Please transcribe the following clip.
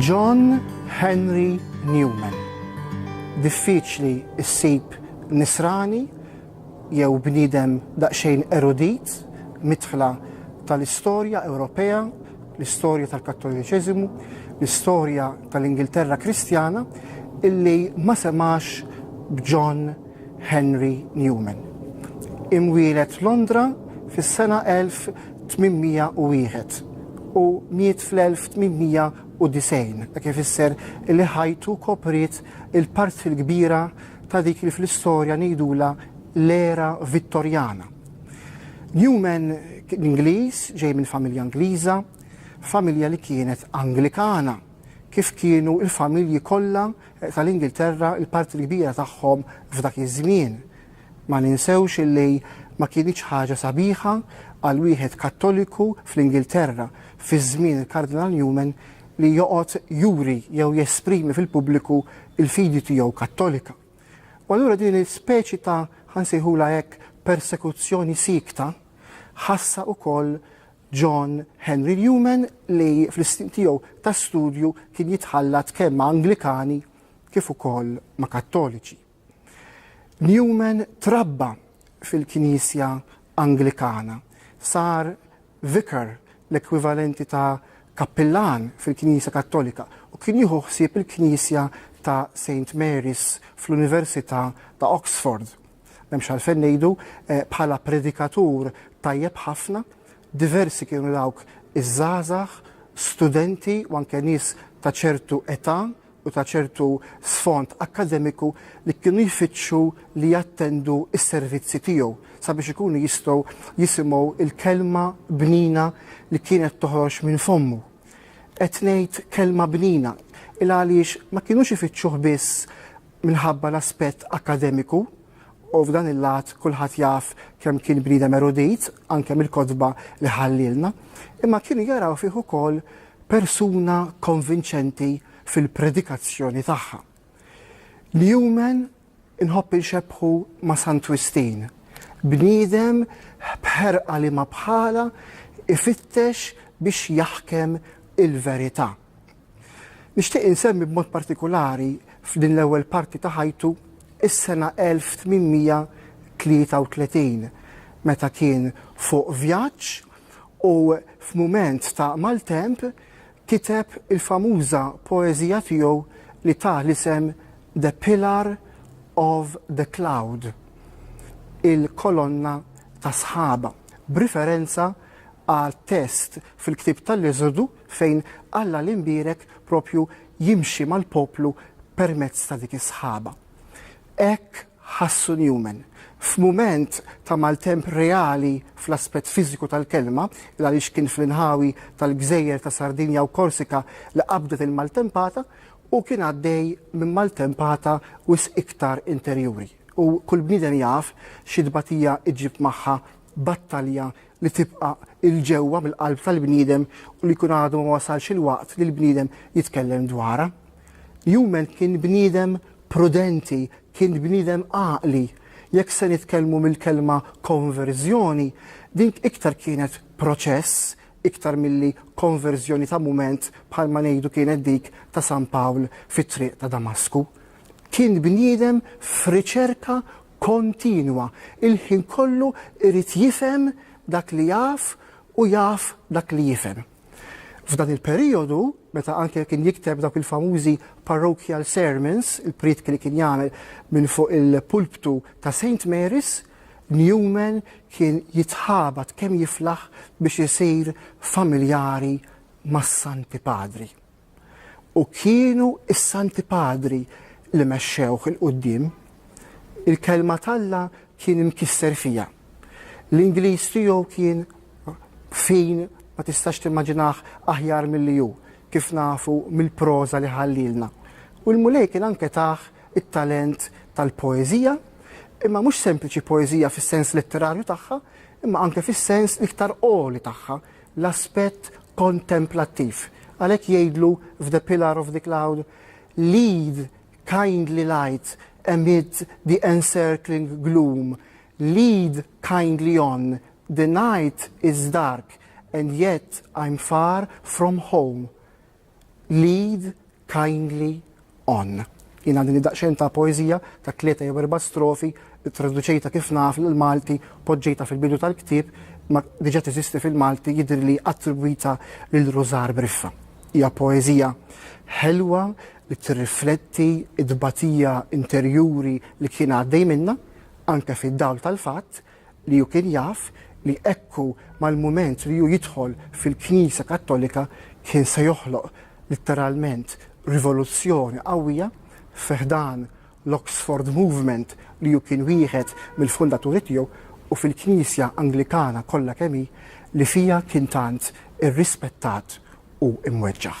John Henry Newman Diffiċli ssib Nisrani jew bniedem daqsxejn erudit midħla tal-istorja Ewropea, l-istorja tal-Kattoliċiżmu, l-istorja tal-Ingilterra Kristjana illi ma semax b'John Henry Newman, imwieled f'Londra fis-sena 1801 u miet fl-1890, dak ifisser li ħajtu kopriet il-parti l-kbira ta' dik li fl-istorja ngħidulha l-era Vittorjana. Newman kien Ingliż, ġej minn familja Ingliża, familja li kienet Anglikana, kif kienu l-familji kollha tal-Ingilterra il-parti l-kbira tagħhom f'dak iż-żmien. Ma ninsewx illi ma kinitx ħaġa sabiħa għal wieħed Kattoliku fl-Ingilterra fi żmien il-Kardinal Newman li joqgħod juri jew jesprimi fil-pubbliku l-fidi tiegħu Kattolika. U allura din il-speċi ta' ħa nsejħulha hekk persekuzzjoni siekta ħassa wkoll John Henry Newman li fl-istin tiegħu ta' studju kien jitħallat kemm ma' Anglikani kif ukoll ma' Kattoliċi. Newman trabba fil-Knisja Anglikana, sar vicar, l-ekwivalenti ta' kappillan fil-Knisja Kattolika, u kien jieħu ħsieb il-Knisja ta' Saint Mary's fl-Università ta' Oxford. M'hemmx għalfejn ngħidu, bħala predikatur tajjeb ħafna, diversi kienu dawk iż-żgħażagħ, studenti u anke nies ta' ċertu età u ta' ċertu sfond akkademiku li kienu jfittxu li jattendu s-servizzi tiegħu sabiex ikunu jistgħu jisimgħu l-kelma bnina li kienet toħroġ minn fommu. Qed ngħid kelma bnina il għaliex ma kinux ifittxuh biss minħabba l-aspett akkademiku, u f'dan il-lat kulħadd jaf kemm kien bniedem erudit, anke mill-kotba li ħallielna, imma kienu jaraw fih ukoll persuna konvinċenti fil-predikazzjoni tagħha. Newman inħobb inxebbħu ma' Sant Wistin, bniedem b'ħerqa liema bħalha ifittex biex jaħkem il-verità. Nixtieq insemmi b'mod partikulari f'din l-ewwel parti ta' ħajtu is-sena 1833 meta kien fuq vjaġġ u f'mument ta' maltemp kiteb il-famuża poeżija tiegħu li ta l-isem The Pillar of the Cloud, Il-Kolonna tas-Sħaba, b'riferenza għat-test fil-ktieb tal-Eżodu fejn Alla l-imbierek proprju jimxi mal-poplu permezz ta' dik is-sħaba. Hekk ħassu Newman. F'mument ta' maltemp reali fl-aspett fiżiku tal-kelma, il għaliex kien fl-inħawi tal-gżejjer ta' Sardinja u Korsika li qabdet il-maltempata, hu kien għaddej minn maltempata wisq iktar interjuri. U kull bniedem jaf xi tbatija ġġib magħha battalja li tibqa' 'il ġewwa mill-qalb tal-bniedem u li jkun għadu ma wasalx il-waqt li l-bniedem jitkellem dwarha. Newman kien bniedem prudenti, kien bniedem għaqli. Jekk se nitkellmu mill-kelma konverżjoni, din iktar kienet proċess iktar milli konverżjoni ta' mument bħalma ngħidu kienet dik ta' San Pawl fit-triq ta' Damasku. Kien bniedem f'riċerka kontinwa, il-ħin kollu irid jifhem dak li jaf u jaf dak li jifhem. F'dan il-perijodu, meta anke kien jikteb dawk il-famużi Parochial Sermons, il-prietki li kien jagħmel minn fuq il-pulptu ta' Saint Mary's, Newman kien jitħabat kemm jiflaħ biex isir familjari mas-Santi Padri. u kienu s-Santi Padri li mexxewh 'il quddiem, il-Kelma t'Alla kien imkisser fiha. L-Ingliż tiegħu kien fin ma tistax timmaġinah aħjar milli hu, kif nafu mill-proża li ħallielna. U l-Mulej kien anke tah it-talent tal-poeżija, imma mhux sempliċi poeżija fis-sens letterarju tagħha, imma anke fis-sens l-iktar għoli tagħha, l-aspett kontemplattiv. Għalhekk jgħidlu f'The Pillar of the Cloud, Lead, kindly light, amid the encircling gloom, lead kindly on, the night is dark and yet I'm far from home. Lead kindly on. Jien għandini daqsxejn ta' poeżija ta' tlieta jew erba' strofi, ittraduċejtha kif naf l-Malti, poġġejtha fil-bidu tal-ktieb, ma diġa teżisti fil-Malti jidhirli attribwita lil Rużar Briffa. Hija poeżija ħelwa li tirrifletti t-tbatija interjuri li kien għaddej minnha, anke fid-dawl tal-fatt li hu kien jaf li hekk u mal-mument li hu jidħol fil-Knisja Kattolika kien se joħloq litteralment rivoluzzjoni qawwija fi ħdan l-Oxford Movement li hu kien wieħed mill-fundaturi tiegħu u fil-Knisja Anglikana kollha kemm hi li fiha kien tant irrispettat u mweġġaħ.